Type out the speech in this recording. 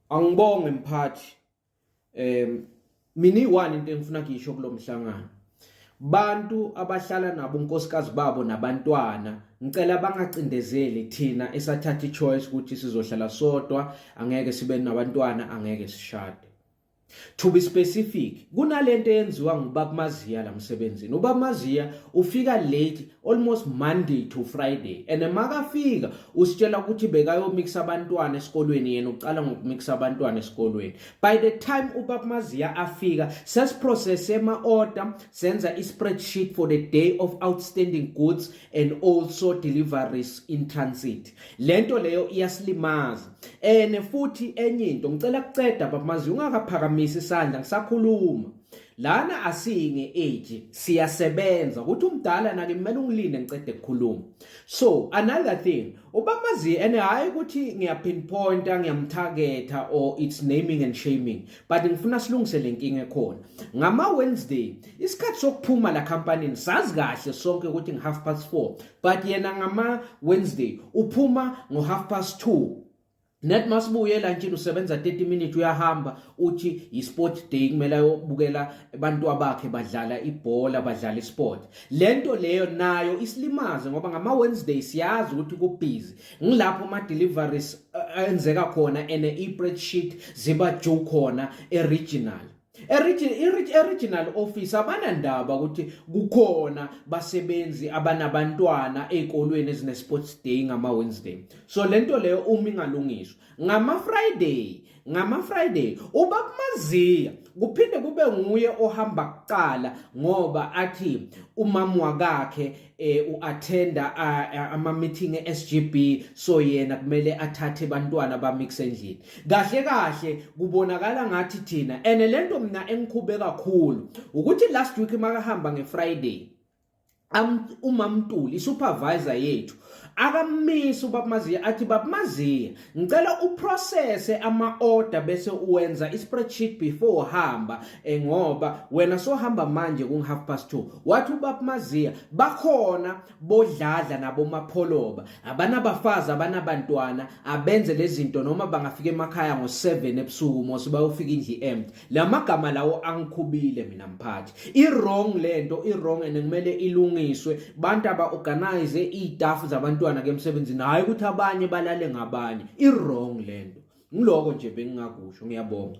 Angibonge mphathi. Em mina iwani into engifuna kuyisho kulomhlangano. Bantu abahlala nabo unkosikazi babo nabantwana ngicela bangacindezeli thina esathatha ichoice ukuthi sizohlala sodwa angeke sibe nabantwana angeke sishade. To be specific, kunalento eyenziwa ngubab Maziya la msebenzini. Ubab Maziya ufika late almost Monday to Friday and makafika usitshela ukuthi bekayomixa abantwana esikolweni yena uqala ngokumixa abantwana esikolweni. By the time ubab Maziya afika sesiprocess ema order senza i-spreadsheet for the day of outstanding goods and also deliveries in transit. lento leyo iyasilimaza ene futhi enye into ngicela kuceda baba manje ungakaphakamisi isandla ngisakhuluma lana asinge age siyasebenza ukuthi umdala nake kumele ungilinde ngicede kukhuluma so another thing ubamazi and hayi ukuthi ngiyapinpointa ngiyamtargeta or it's naming and shaming but ngifuna silungise le nkinga ekhona ngama-wednesday isikhathi sokuphuma la khampanini sazi kahle sonke ukuthi ngi-half past four but yena ngama Wednesday uphuma ngo half past 2 net masibuye lantshini usebenza 30 minutes uyahamba uthi yi sport day kumele ayobukela abantu abakhe badlala ibhola badlala isport lento leyo nayo isilimaze ngoba ngama Wednesday siyazi ukuthi kubhizi ngilapho ama deliveries eh, enzeka khona ene e spreadsheet ziba juu khona e regional Eregional office abanandaba ukuthi kukhona basebenzi abanabantwana ezikolweni ezine sports day ngama Wednesday so lento leyo uma ingalungiswa ngama Friday ngama Friday ubakumaziya kuphinde kube nguye ohamba kuqala ngoba athi umama wakakhe eh uattenda ama meeting eSGB so yena kumele athathe abantwana bamix endlini kahle kahle kubonakala ngathi thina ene lento mina engikhube kakhulu ukuthi last week makahamba ngeFriday am umamtuli supervisor yethu akamisi ubabmaziya athi babmaziya Ngicela uprocesse ama order bese uwenza ispreadsheet before uhamba eh, ngoba wena sohamba manje ku half past 2 wathi ubab Maziya bakhona bodladla nabo mapholoba abanabafazi abanabantwana abenze lezinto noma bangafika emakhaya ngo 7 ebusuku mose bayofika indli empty Lamagama lawo angikhubile mina mphathi. I wrong lento, i wrong and kumele ilungiswe. Bantu aba organize istaff zabantwana ke emsebenzini hayi ukuthi abanye balale ngabanye. I wrong lento. Ngiloko nje bengingakusho. Ngiyabonga.